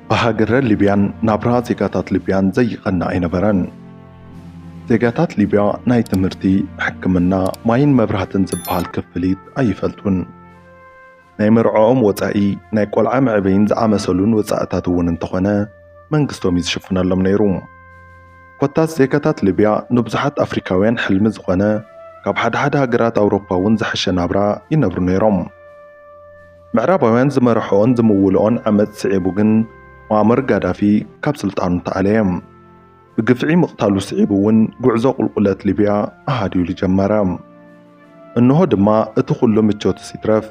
ብሃገረ ሊብያን ናብራ ዜጋታት ሊብያን ዘይቐና ኣይነበረን። ዜጋታት ሊብያ ናይ ትምህርቲ፣ ሕክምና፣ ማይን መብራህትን ዝበሃል ክፍሊት ኣይፈልጡን። ናይ መርዕኦም ወጻኢ፣ ናይ ቆልዓ መዕበይን ዝኣመሰሉን ወጻእታት እውን እንተኾነ፣ መንግስቶም እዩ ዝሽፍነሎም ነይሩ። ኮታስ ዜጋታት ሊብያ ንብዙሓት ኣፍሪካውያን ሕልሚ ዝኾነ ካብ ሓደ ሓደ ሃገራት ኣውሮፓ እውን ዝሐሸ ናብራ ይነብሩ ነይሮም። ምዕራባውያን ዝመርሕኦን ዝምውልኦን ዓመፅ ስዒቡ ግን ሙኣመር ጋዳፊ ካብ ስልጣኑ ተኣለየ። ብግፍዒ ምቕታሉ ስዒቡ እውን ጉዕዞ ቁልቁለት ሊብያ ኣሃድዩሉ ጀመረ። እንሆ ድማ እቲ ኩሉ ምቾትስ ይትረፍ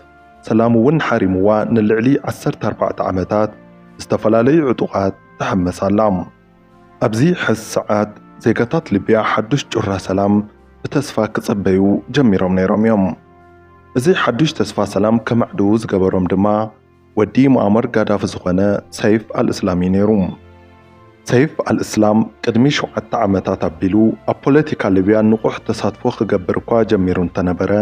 ሰላም እውን ሓሪምዋ ንልዕሊ ዓሰርተ ኣርባዕተ ዓመታት ብዝተፈላለዩ ዕጡቓት ትሕመስ ኣላ። ኣብዚ ሕዚ ሰዓት ዜጋታት ሊብያ ሓዱሽ ጩራ ሰላም ብተስፋ ክጽበዩ ጀሚሮም ነይሮም እዮም። እዚ ሓዱሽ ተስፋ ሰላም ከማዕድዉ ዝገበሮም ድማ፣ ወዲ ሙኣመር ጋዳፊ ዝኾነ ሰይፍ ኣልእስላም'ዩ ነይሩ። ሰይፍ ኣልእስላም ቅድሚ ሸውዓተ ዓመታት ኣቢሉ ኣብ ፖለቲካ ሊብያ ንቑሕ ተሳትፎ ክገብር እኳ ጀሚሩ እንተነበረ፣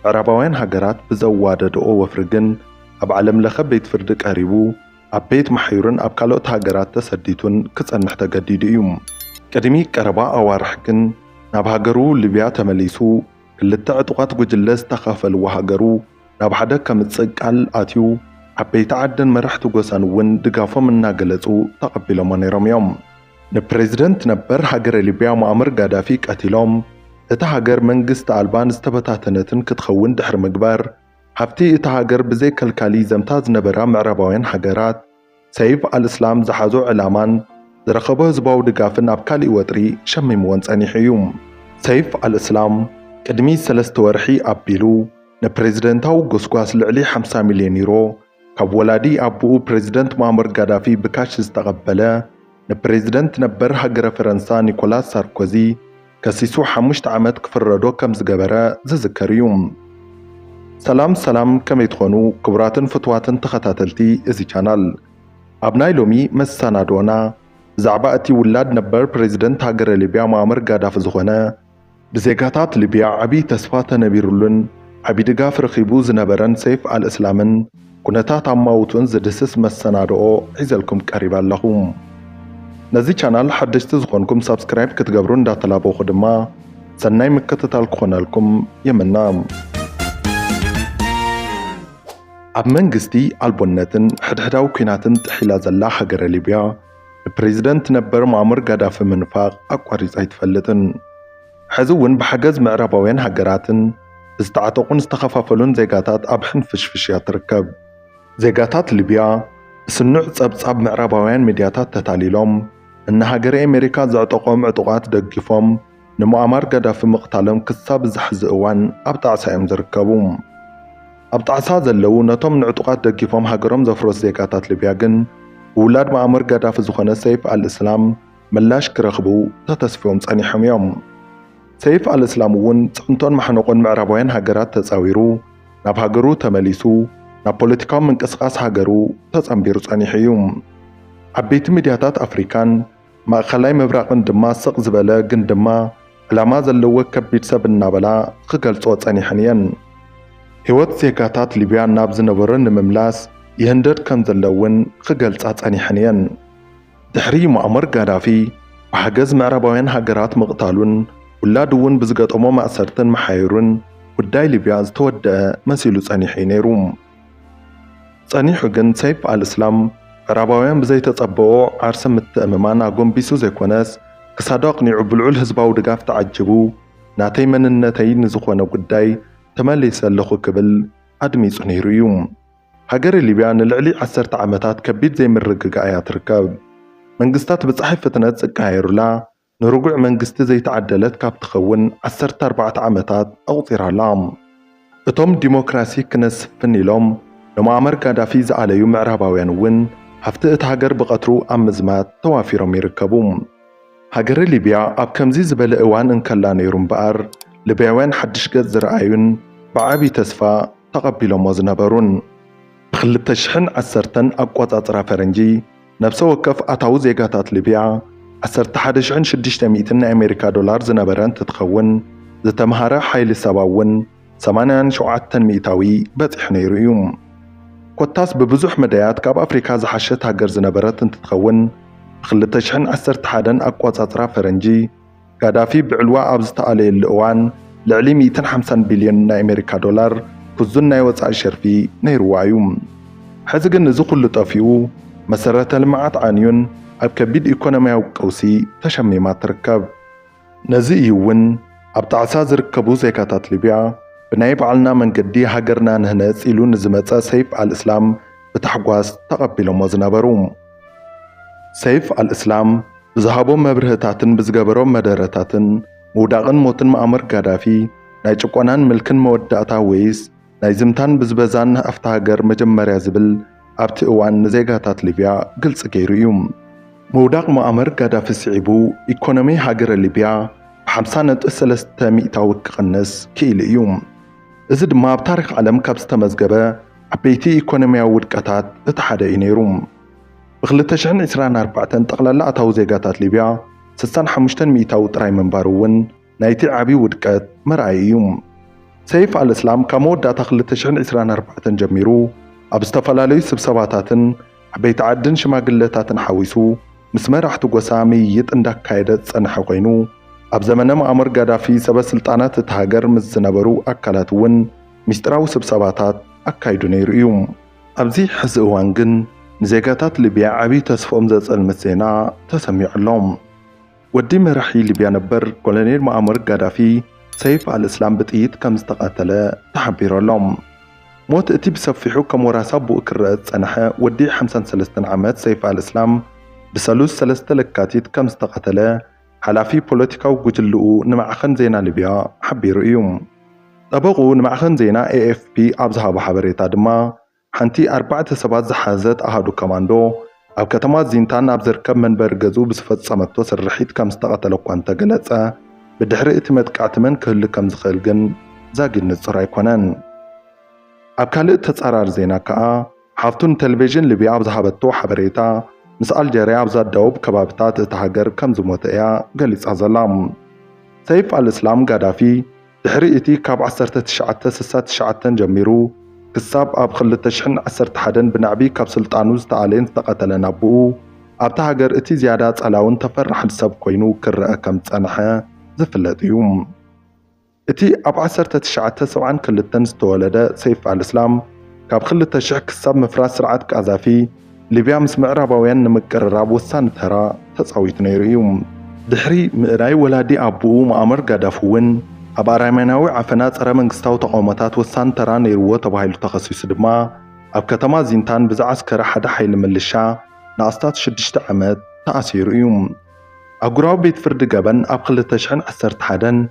ምዕራባውያን ሃገራት ብዘዋደድኦ ወፍሪ ግን ኣብ ዓለምለኸ ቤት ፍርዲ ቀሪቡ ኣብ ቤት ማሕዩርን ኣብ ካልኦት ሃገራት ተሰዲቱን ክጸንሕ ተገዲዱ እዩ። ቅድሚ ቀረባ ኣዋርሕ ግን ናብ ሃገሩ ሊብያ ተመሊሱ ክልተ ዕጡቓት ጉጅለ ዝተኻፈልዎ ሃገሩ፣ ናብ ሓደ ከምጽእ ቃል ኣትዩ፣ ዓበይቲ ዓድን መራሕቲ ጎሳን እውን ድጋፎም እናገለጹ ተቐቢሎሞ ነይሮም እዮም። ንፕረዚደንት ነበር ሃገረ ሊብያ ሞኣመር ጋዳፊ ቀቲሎም፣ እታ ሃገር መንግስቲ ኣልባን ዝተበታተነትን ክትኸውን ድሕሪ ምግባር፣ ሃብቲ እታ ሃገር ብዘይከልካሊ ይዘምታ ዝነበራ ምዕራባውያን ሃገራት፣ ሰይፍ ኣልእስላም ዝሓዞ ዕላማን ዝረኸቦ ህዝባዊ ድጋፍን ኣብ ካሊእ ወጥሪ ሸሚምዎን ጸኒሑ እዩ። ሰይፍ ኣልእስላም ቅድሚ ሰለስተ ወርሒ ኣቢሉ ንፕረዚደንታዊ ጎስጓስ ልዕሊ ሓምሳ ሚልዮን ዩሮ ካብ ወላዲ ኣቡኡ ፕረዚደንት ሙኣመር ጋዳፊ ብካሽ ዝተቐበለ፣ ንፕሬዝደንት ነበር ሃገረ ፈረንሳ ኒኮላስ ሳርኮዚ ከሲሱ ሓሙሽተ ዓመት ክፍረዶ ከም ዝገበረ ዝዝከር እዩ። ሰላም ሰላም ከመይ ትኾኑ ክቡራትን ፍትዋትን ተኸታተልቲ እዚ ቻናል። ኣብ ናይ ሎሚ መሰናድኦና ብዛዕባ እቲ ውላድ ነበር ፕሬዝደንት ሃገረ ሊብያ ሙኣመር ጋዳፊ ዝኾነ ብዜጋታት ሊብያ ዓቢ ተስፋ ተነቢሩሉን ዓቢ ድጋፍ ረኺቡ ዝነበረን ሰይፍ ኣልእስላምን ኩነታት ኣማውቱን ዝድህስስ መሰናድኦ ሒዘልኩም ቀሪበ ኣለኹ። ነዚ ቻናል ሓደሽቲ ዝኾንኩም ሳብስክራይብ ክትገብሩ እንዳተላበኹ ድማ ሰናይ ምክትታል ክኾነልኩም ይምነ። ኣብ መንግስቲ ኣልቦነትን ሕድሕዳዊ ኲናትን ጥሒላ ዘላ ሃገረ ሊብያ፣ ንፕሬዝደንት ነበር ሙኣመር ጋዳፊ ምንፋቕ ኣቋሪጻ ኣይትፈልጥን። ሕዚ እውን ብሓገዝ ምዕራባውያን ሃገራትን ብዝተዓጠቑን ዝተኸፋፈሉን ዜጋታት ኣብ ሕንፍሽፍሽ እያ ትርከብ። ዜጋታት ሊብያ ብስኑዕ ጸብጻብ ምዕራባውያን ሚድያታት ተታሊሎም ንናሃገረ ኤሜሪካ ዘዕጠቖም ዕጡቓት ደጊፎም፣ ንሙኣማር ጋዳፊ ምቕታሎም ክሳብ እዚ ሕዚ እዋን ኣብ ጣዕሳ እዮም ዝርከቡ። ኣብ ጣዕሳ ዘለዉ ነቶም ንዕጡቓት ደጊፎም ሃገሮም ዘፍረሱ ዜጋታት ሊብያ ግን ብውላድ ሙኣመር ጋዳፊ ዝኾነ ሰይፍ ኣልእስላም ምላሽ ክረኽቡ ተተስፍዮም ጸኒሖም እዮም። ሰይፍ ኣልእስላም እውን ጽዕንቶን ማሕነቖን ምዕራባውያን ሃገራት ተጻዊሩ ናብ ሃገሩ ተመሊሱ ናብ ፖለቲካዊ ምንቅስቓስ ሃገሩ ተጸንቢሩ ጸኒሑ እዩ። ዓበይቲ ሚድያታት ኣፍሪካን ማእኸላይ ምብራቕን ድማ ስቕ ዝበለ ግን ድማ ዕላማ ዘለዎ ከቢድ ሰብ እናበላ ኽገልፅኦ ፀኒሐን እየን። ህይወት ዜጋታት ሊብያ ናብ ዝነበሮ ንምምላስ ይህንደድ ከም ዘሎ እውን ኽገልፃ ፀኒሐን እየን። ድሕሪ ሙኣመር ጋዳፊ ብሓገዝ ምዕራባውያን ሃገራት ምቕታሉን ውላዱ እውን ብዝገጠሞ ማእሰርትን ምሓዩሩን ጉዳይ ሊብያ ዝተወደኣ መሲሉ ፀኒሑ እዩ ነይሩ። ጸኒሑ ግን ሰይፍ ኣልእስላም፣ ምዕራባውያን ብዘይተጸበኦ ዓርሰ ምትእምማን ኣጎንቢሱ ዘይኮነስ፣ ክሳዱ ኣቕኒዑ ብልዑል ህዝባዊ ድጋፍ ተዓጂቡ፣ ናተይ መንነተይ ንዝኾነ ጉዳይ ተመሊሰ ኣለኹ ክብል ኣድሚጹ ነይሩ እዩ። ሃገረ ሊብያ ንልዕሊ ዓሰርተ ዓመታት ከቢድ ዘይምርግጋእ እያ ትርከብ። መንግስታት ብጸሓይ ፍጥነት ዝቀያየሩላ፣ ንርጉዕ መንግስቲ ዘይተዓደለት ካብ ትኸውን ዓሰርተ ኣርባዕተ ዓመታት ኣቑጺራ ኣላ። እቶም ዲሞክራሲ ክነስፍን ኢሎም ንሞኣመር ጋዳፊ ዝኣለዩ ምዕራባውያን እውን ሃፍቲ እታ ሃገር ብቐትሩ ኣብ ምዝማት ተዋፊሮም ይርከቡ። ሃገረ ሊብያ ኣብ ከምዚ ዝበለ እዋን እንከላ ነይሩ እምበኣር ልብያውያን ሓድሽ ገጽ ዝረኣዩን ብዓቢ ተስፋ ተቐቢሎሞ ዝነበሩን። ብክልተ ሽሕን ዓሰርተን ኣቆጻጽራ ፈረንጂ፣ ነብሰ ወከፍ ኣታዊ ዜጋታት ሊብያ ዓሰርተ ሓደ ሽሕን ሽዱሽተ ሚእትን ናይ ኣሜሪካ ዶላር ዝነበረ እንትትኸውን፣ ዝተምሃረ ሓይሊ ሰባ እውን ሰማንያን ሸውዓተን ሚእታዊ በጺሑ ነይሩ እዩ። ኮታስ ብብዙሕ መዳያት ካብ ኣፍሪካ ዝሓሸት ሃገር ዝነበረት እንትትኸውን፣ ብክልተ ሽሕን ዓሰርተ ሓደን ኣቋጻጽራ ፈረንጂ፣ ጋዳፊ ብዕልዋ ኣብ ዝተኣለየሉ እዋን ልዕሊ ሚእትን ሓምሳን ቢልዮን ናይ ኣሜሪካ ዶላር ክዙን ናይ ወጻኢ ሸርፊ ነይርዋ እዩ። ሕዚ ግን እዚ ኩሉ ጠፊኡ መሰረተ ልምዓት ዓንዩን ኣብ ከቢድ ኢኮኖሚያዊ ቀውሲ ተሸሚማ ትርከብ። ነዚ እዩ እውን ኣብ ጣዕሳ ዝርከቡ ዜጋታት ሊብያ ብናይ ባዕልና መንገዲ ሃገርና ንህነጽ ኢሉ ንዝመጸ ሰይፍ ኣልእስላም ብታሕጓስ ተቐቢሎሞ ዝነበሩ። ሰይፍ ኣልእስላም ብዝሃቦም መብርህታትን ብዝገበሮም መደረታትን ምውዳቕን ሞትን መኣሙር ጋዳፊ ናይ ጭቆናን ምልክን መወዳእታ ወይስ ናይ ዝምታን ብዝበዛን ሃፍቲ ሃገር መጀመርያ ዝብል ኣብቲ እዋን ንዜጋታት ሊብያ ግልፂ ገይሩ እዩ። ምውዳቕ መኣሙር ጋዳፊ ስዒቡ ኢኮኖሚ ሃገረ ሊብያ ብሓምሳ ነጥቢ ሰለስተ ሚእታዊት ክቕንስ ክኢሉ እዩ። እዚ ድማ ኣብ ታሪኽ ዓለም ካብ ዝተመዝገበ ዓበይቲ ኢኮኖሚያዊ ውድቀታት እቲ ሓደ እዩ ነይሩ። ብ ክልተ ሽሕን ዕስራን ኣርባዕተን ጠቕላላ ኣታዊ ዜጋታት ሊብያ ስሳን ሓሙሽተን ሚኢታዊ ጥራይ ምንባሩ እውን ናይቲ ዓቢ ውድቀት መርኣዪ እዩ። ሰይፍ ኣልእስላም ካብ መወዳእታ ክልተ ሽሕን ዕስራን ኣርባዕተን ጀሚሩ ኣብ ዝተፈላለዩ ስብሰባታትን ዓበይቲ ዓድን ሽማግለታትን ሓዊሱ ምስ መራሕቲ ጎሳ ምይይጥ እንዳካየደ ዝጸንሐ ኮይኑ ኣብ ዘመነ መኣሙር ጋዳፊ ሰበ ስልጣናት እታ ሃገር ምስ ዝነበሩ ኣካላት እውን ምስጢራዊ ስብሰባታት ኣካይዱ ነይሩ እዩ። ኣብዚ ሕዚ እዋን ግን ንዜጋታት ሊብያ ዓብዪ ተስፍኦም ዘጸልምት ዜና ተሰሚዑ ኣሎ። ወዲ መራሒ ሊብያ ነበር ኮሎኔል ሞኣመር ጋዳፊ ሰይፍ ኣልእስላም ብጥይት ከም ዝተቐተለ ተሓቢሩ ኣሎ። ሞት እቲ ብሰፊሑ ከም ወራሲ ኣቡኡ ክረኣ ዝጸንሐ ወዲ ሓምሳን ሰለስተን ዓመት ሰይፍ ኣልእስላም ብሰሉስ ሰለስተ ለካቲት ከም ዝተቐተለ ሓላፊ ፖለቲካዊ ጉጅልኡ ንማዕኸን ዜና ሊብያ ሓቢሩ እዩ። ጠበቕኡ ንማዕኸን ዜና ኤኤፍፒ ኣብ ዝሃቦ ሓበሬታ ድማ፣ ሓንቲ ኣርባዕተ ሰባት ዝሓዘት ኣሃዱ ኮማንዶ፣ ኣብ ከተማ ዚንታን ኣብ ዝርከብ መንበሪ ገዝኡ ብዝፈጸመቶ ስርሒት ከም ዝተቐተለ እኳ እንተገለጸ፣ ብድሕሪ እቲ መጥቃዕቲ መን ክህሉ ከም ዝኽእል ግን ዛጊድ ንጹር ኣይኮነን። ኣብ ካልእ ተጻራሪ ዜና ከኣ፣ ሓፍቱ ንተለቪዥን ሊብያ ኣብ ዝሃበቶ ሓበሬታ፣ ምስ ኣልጀርያ ኣብ ዘዳውብ ከባቢታት እታ ሃገር ከም ዝሞተ እያ ገሊጻ ዘላ። ሰይፍ ኣልእስላም ጋዳፊ ድሕሪ እቲ ካብ ዓሰርተ ትሽዓተ ስሳ ትሽዓተ ጀሚሩ ክሳብ ኣብ ክልተ ሽሕን ዓሰርተ ሓደን ብናዕቢ ካብ ስልጣኑ ዝተኣልየን ዝተቐተለን ኣቦኡ፣ ኣብታ ሃገር እቲ ዝያዳ ጸላውን ተፈራሕን ሰብ ኮይኑ ክረኣ ከም ዝጸንሐ ዝፍለጥ እዩ። እቲ ኣብ ዓሰርተ ትሽዓተ ሰብዓን ክልተን ዝተወለደ ሰይፍ ኣልእስላም፣ ካብ ክልተ ሽሕ ክሳብ ምፍራስ ስርዓት ቃዛፊ፣ ሊብያ ምስ ምዕራባውያን ንምቅርራብ ወሳኒ ተራ ተጻዊቱ ነይሩ እዩ። ድሕሪ ምእላይ ወላዲ ኣቡኡ ሙኣመር ጋዳፊ እውን፣ ኣብ ኣራሜናዊ ዓፈና ጸረ መንግስታዊ ተቓውሞታት ወሳኒ ተራ ነይርዎ ተባሂሉ ተኸሲሱ ድማ ኣብ ከተማ ዚንታን ብዝዓስከረ ሓደ ሓይሊ ምልሻ ንኣስታት ሽዱሽተ ዓመት ተኣሲሩ እዩ። ኣህጉራዊ ቤት ፍርዲ ገበን ኣብ ክልተ ሽሕን ዓሰርተ ሓደን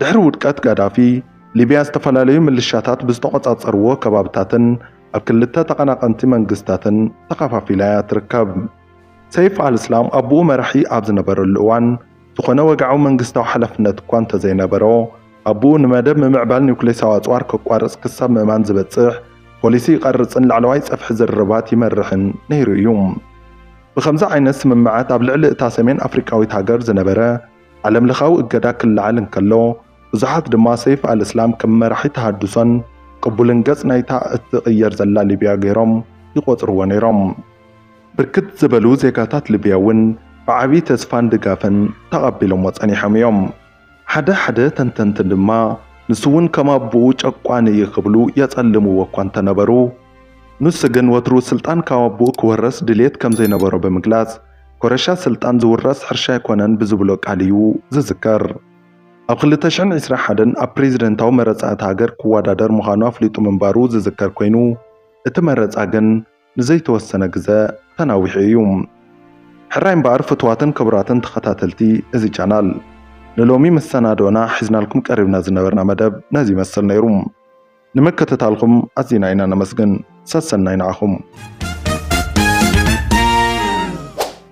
ድሕሪ ውድቀት ጋዳፊ፣ ሊብያ ዝተፈላለዩ ምልሻታት ብዝተቖጻጸርዎ ከባብታትን ኣብ ክልተ ተቐናቐንቲ መንግስታትን ተኸፋፊላ እያ ትርከብ። ሰይፍ ኣልእስላም ኣቡኡ መራሒ ኣብ ዝነበረሉ እዋን፣ ዝኾነ ወግዓዊ መንግስታዊ ሓላፍነት እኳ እንተዘይነበሮ፣ ኣቡኡ ንመደብ ምምዕባል ኒዩክሌሳዊ ኣጽዋር ከቋርጽ ክሳብ ምእማን ዝበጽሕ ፖሊሲ ይቐርጽን ላዕለዋይ ጸፍሒ ዝርርባት ይመርሕን ነይሩ እዩ። ብኸምዚ ዓይነት ስምምዓት ኣብ ልዕሊ እታ ሰሜን ኣፍሪቃዊት ሃገር ዝነበረ ዓለምለኻዊ እገዳ ክለዓል እንከሎ፣ ብዙሓት ድማ ሰይፍ ኣል-እስላም ከም መራሒ ተሃድሶን ቅቡልን ገጽ ናይታ እትቕየር ዘላ ሊብያ ገይሮም ይቖጽርዎ ነይሮም። ብርክት ዝበሉ ዜጋታት ሊብያ'ውን ብዓቢ ተስፋን ድጋፍን ተቐቢሎምዎ ጸኒሖም እዮም። ሓደ ሓደ ተንተንቲ ድማ ንሱ'ውን ከም ኣቦኡ ጨቋኒ እዩ ክብሉ የጸልምዎ እኳ እንተነበሩ፣ ንሱ ግን ወትሩ ስልጣን ካብ ኣቦኡ ክወርስ ድልየት ከም ዘይነበሮ ብምግላጽ፣ ኮረሻ ስልጣን ዝውረስ ሕርሻ ኣይኮነን ብዝብሎ ቃል እዩ ዝዝከር። ኣብ ክልተ ሽሕን ዒስራን ሓደን ኣብ ፕሬዚደንታዊ መረፃ እታ ሃገር ክወዳደር ምዃኑ ኣፍሊጡ ምንባሩ ዝዝከር ኮይኑ እቲ መረፃ ግን ንዘይተወሰነ ግዘ ተናዊሑ እዩ። ሕራይ እምበኣር ፍቱዋትን ክቡራትን ተኸታተልቲ እዚ ቻናል ንሎሚ መሰናድኦና ሒዝናልኩም ቀሪብና ዝነበርና መደብ ነዚ ይመስል ነይሩ። ንምክትታልኩም ኣዚና ኢና ነመስግን ሰሰናዩ ንዓኹም።